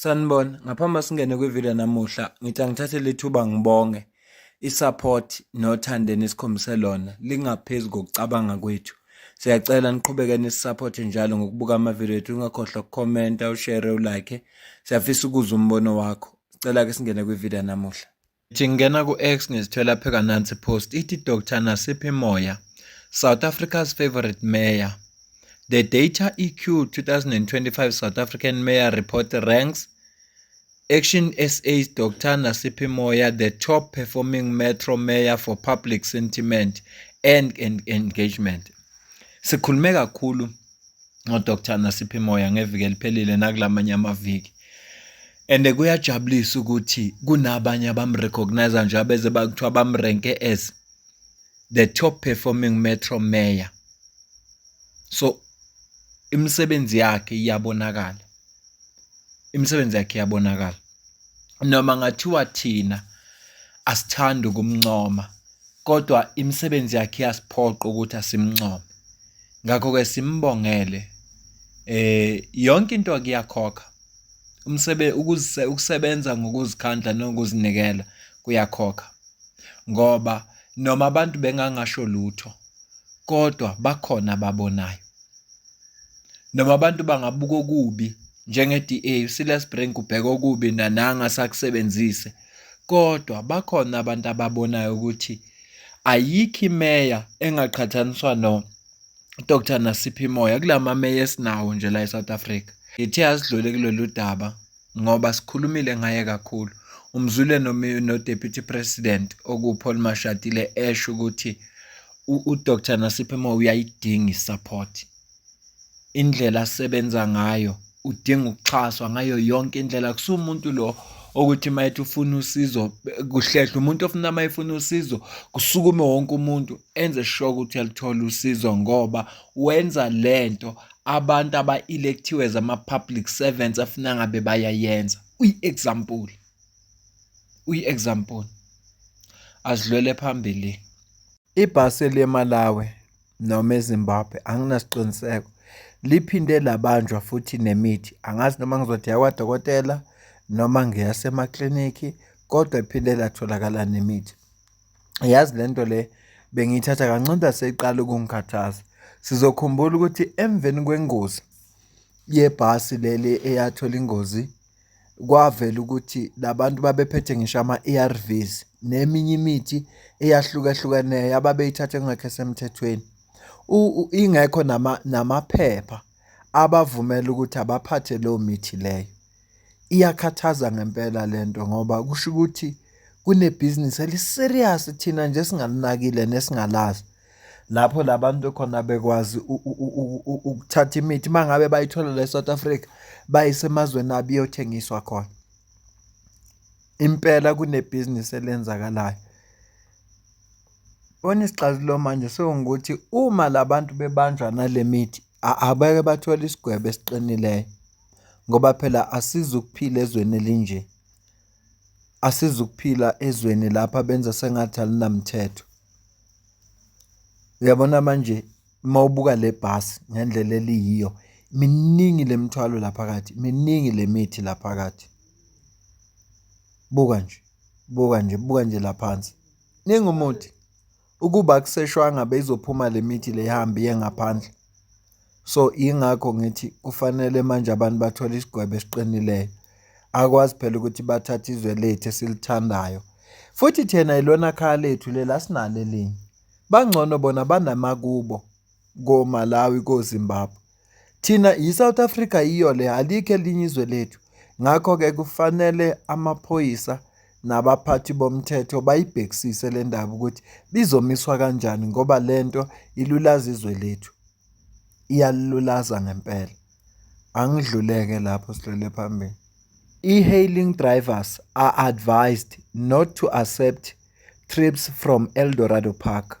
Sanibona, ngaphambi singene kwivideo namuhla, ngithi angithathe lethuba ngibonge isupport nothando enikhombise lona lingaphezulu kokucabanga kwethu. Siyacela niqhubeke nisisupport njalo ngokubuka amavideo ethu, ungakhohlwa ukukhomenta, ushare, ulike. Siyafisa ukuzwa umbono wakho. Sicela ke singene kwivideo namuhla. Ngithi ngingena ku-X ngizithwela pheka nansi post ithi Dr Nasiphi Moya South Africa's favorite mayor The Data EQ 2025 South African Mayor Report ranks Action SA's Dr Nasiphi Moya the top performing metro mayor for public sentiment and, and engagement. Sikhulume kakhulu ngodr nasiphi moya ngeviki eliphelile nakulamanye amaviki and kuyajabulisa ukuthi kunabanye abamrecognize nje abeze bakuthiwa bamrenke as the top performing metro mayor so imisebenzi yakhe iyabonakala imisebenzi yakhe iyabonakala noma ngathiwa thina asithandi ukumncoma kodwa imisebenzi yakhe iyasiphoqa ukuthi asimncome ngakho-ke simbongele eh yonke into kuyakhokha umsebe ukusebenza ngokuzikhandla nokuzinikela kuyakhokha ngoba noma abantu bengangasho lutho kodwa bakhona ababonayo Noma abantu bangabuka okubi njenge-DA uSilas Brink ubheka okubi nananga sakusebenzise kodwa bakhona abantu ababonayo ukuthi ayikho imeya engaqhathaniswa no Dr Nasiphi Moya kulamameya esinawo nje la eSouth Africa. Ngithe asidlule kulolu daba ngoba sikhulumile ngaye kakhulu umzwile noDeputy President okuPaul Mashatile esho ukuthi uDr Nasiphi Moyo uyayidinga isupport indlela asebenza ngayo udinga ukuxhaswa ngayo yonke indlela kusumuntu lo okuthi mayethi ufuna usizo kuhlehle umuntu ofuna mayefuna usizo kusukume wonke umuntu enze sure ukuthi uyalithola usizo ngoba wenza lento abantu aba-electhiwe as ama-public servants afuna ngabe bayayenza uyi-example uyi-example asidlwele phambili ibhasi eliye-malawi noma ezimbabwe anginasiqiniseko liphinde labanjwa futhi nemithi angazi noma ngizothi yakwadokotela noma ngiyasemaklinikhi kodwa iphinde latholakala nemithi Yazi le nto le bengiyithatha kancane seyiqala ukungikhathaza. Sizokhumbula ukuthi emveni kwengozi yebhasi leli eyathola ingozi kwavela ukuthi labantu babephethe ngisho ama-A_R_Vs neminye imithi eyahlukahlukeneyo ababeyithatha kungekho esemthethweni. Ingekho namaphepha abavumela ukuthi abaphathe leyo mithi leyo. Iyakhathaza ngempela le nto ngoba kusho ukuthi kunebhizinisi eli-serious thina nje esingalinakile nesingalazi. Lapho la bantu khona bekwazi ukuthatha imithi uma ngabe bayithola la e-South Africa bayise emazweni abo iyothengiswa khona. Impela kunebhizinisi elenzakalayo. Bona isixazululo manje sewungukuthi uma la bantu bebanjwa nale mithi abeke bathole isigwebo esiqinileyo. ngoba phela asizukuphila ezweni elinje. Asizukuphila ezweni lapha benza sengathi alinamthetho. Uyabona manje uma ubuka le bhasi ngendlela eliyiyo miningi le mithwalo la phakathi, miningi le mithi la phakathi. Buka nje, buka nje, buka nje la phansi. Ningi umuthi. Ukuba akuseshwanga beyizophuma le mithi le ihambe iye ngaphandle. So yingakho ngithi kufanele manje abantu bathole isigwebo esiqinileyo. Akwazi phela ukuthi bathathe izwe lethu esilithandayo. Futhi thina ilona khaya lethu lela sinalo elinye. Bangcono bona banamakubo koMalawi koZimbabwe. Thina yiSouth Africa yiyo le alikho elinye izwe lethu ngakho-ke kufanele amaphoyisa nabaphathi bomthetho bayibhekisise le ndaba ukuthi bizomiswa kanjani ngoba le nto ilulaza izwe lethu iyalulaza ngempela angidluleke lapho sidlule phambili e-hailing drivers are advised not to accept trips from eldorado park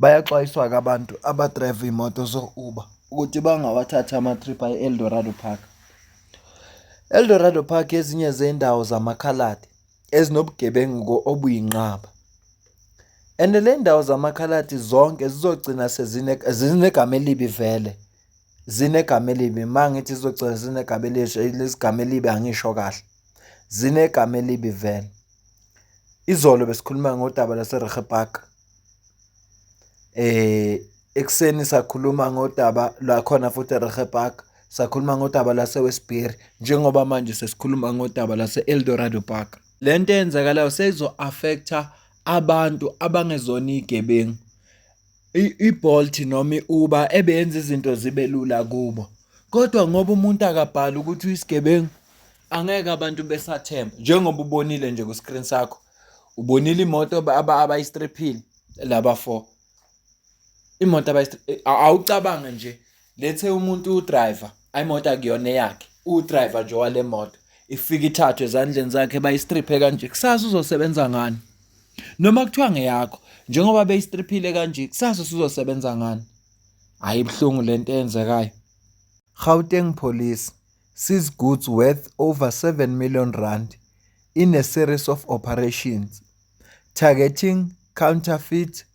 Bayaxwayiswa-ke abantu abadrayiva iy'moto zo-Uber ukuthi bangawathathi ama-trip ayi-Eldorado Park. Eldorado Park ezinye zey'ndawo zamakhaladi ezinobugebengu obuyinqaba. And le ndawo zamakhaladi zonke zizogcina sezinegama elibi vele. Zinegama elibi, uma ngithi zizogcina zinegama elihle, elinezigama elibi angisho kahle. zinegama elibi vele izolo besikhuluma ngodaba laseRehe Park eh ekuseni sakhuluma ngodaba lakhona futhi eRehe Park sakhuluma ngodaba laseWestbury njengoba manje sesikhuluma ngodaba lase-Eldorado Park le nto eyenzakalayo seyizo-affecta abantu abangezona iy'gebengu i-Bolt noma i-Uber ebeyenza izinto zibe lula kubo. Kodwa ngoba umuntu akabhali ukuthi uyisigebengu, angeke abantu besathemba. Njengoba ubonile nje ku-screen sakho, ubonile imoto abayistriphile laba four. Imoto abayistriphile, awucabange nje lethe umuntu udriver ayimoto akuyona eyakhe udriver nje wale moto ifika ithathwe ezandleni zakhe bayistriphe kanje kusasa uzosebenza ngani noma kuthiwa ngeyakho njengoba beyistriphile kanje kusasa usuzosebenza ngani hayi ibuhlungu lento eyenzekayo Gauteng Police sees goods worth over 7 million rand in a series of operations targeting counterfeit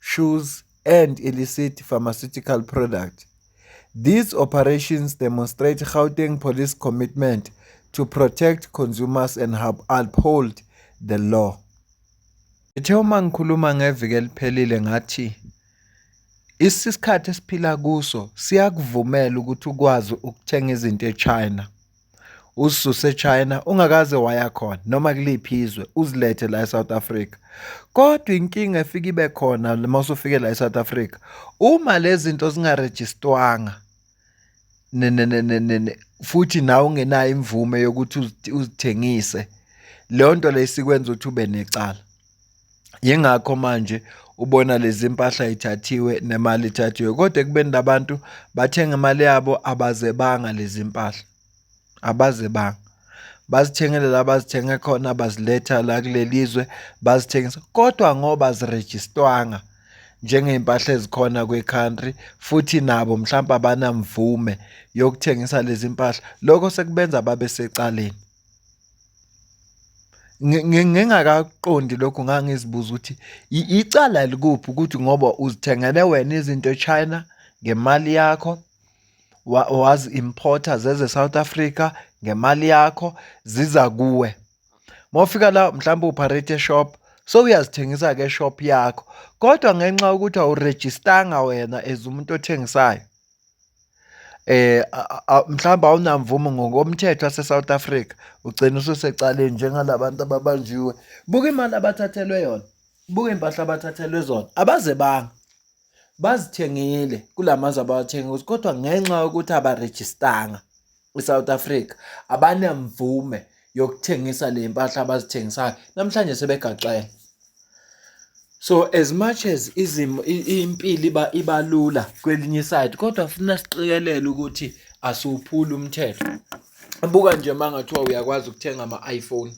Shoes and Illicit Pharmaceutical Product. These operations demonstrate Gauteng Police commitment to protect consumers and uphold the law. Ngithe uma ngikhuluma ngeviki eliphelile ngathi isikhathi esiphila kuso siyakuvumela ukuthi ukwazi ukuthenga izinto eChina. ususe China ungakaze waya khona noma kuliphi izwe uzilethe la eSouth Africa kodwa inkinga efika ibe khona uma usufike la eSouth Africa uma lezinto zingarejistwanga futhi nawe ungenayo imvume yokuthi uzithengise leyo nto leyo sikwenza ukuthi ube necala Yingakho manje ubona lezi mpahla ithathiwe nemali ithathiwe kodwa ekubeni labantu bathenga imali yabo abazebanga lezi mpahla abazebanga bazithengele la bazithenge khona baziletha la kuleli zwe bazithengisa kodwa ngoba zirejistwanga njengey'mpahla ezikhona kwi-country futhi nabo mhlawumpe abanamvume yokuthengisa lezi mpahla lokho sekubenza babe secaleni. Ngingakakuqondi lokhu ngangizibuza ukuthi icala likuphi ukuthi ngoba uzithengele wena izinto e-China ngemali yakho, wazi-import-a zeza e-South Africa ngemali yakho ziza kuwe. Uma ufika la mhlawumbe upharetha e-shop sowuyazithengisa-ke e-shop yakho kodwa ngenxa yokuthi awurejistanga wena as umuntu othengisayo. Mhlawumbe awunamvumo ngokomthetho wase-South Africa ugcine ususecaleni njengala bantu ababanjiwe. Buka imali abathathelwe yona, buka iy'mpahla abathathelwe zona, abazebanga bazithengile kula mazwe abawathengile kodwa ngenxa yokuthi abarejistanga. ISouth Africa abanamvume yokuthengisa le mpahla abazithengisayo namhlanje sebegaxele so as much as izimo impilo iba ibalula kwelinye side kodwa funa siqikelele ukuthi asiwuphuli umthetho buka nje mangathiwa uyakwazi ukuthenga ama iPhone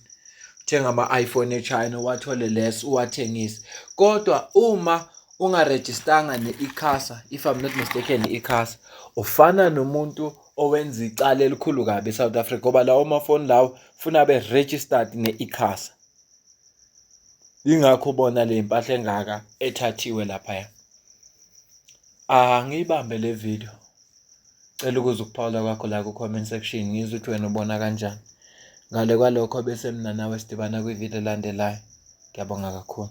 thenga ama iPhone eChina wathole les uwathengise kodwa uma ungarejistanga ne-ICASA if I'm not mistaken i-ICASA ufana nomuntu owenza icala elikhulu kabi eSouth Africa ngoba lawo mafoni lawo funa be registered ne-ICASA ingakho bona le mpahla engaka ethathiwe laphaya angiyibambe le video cela ukuze ukuphawula kwakho la ku comment section ngizwe ukuthi wena ubona kanjani ngale kwalokho bese mina nawe sidibana kwivideo elandelayo ngiyabonga kakhulu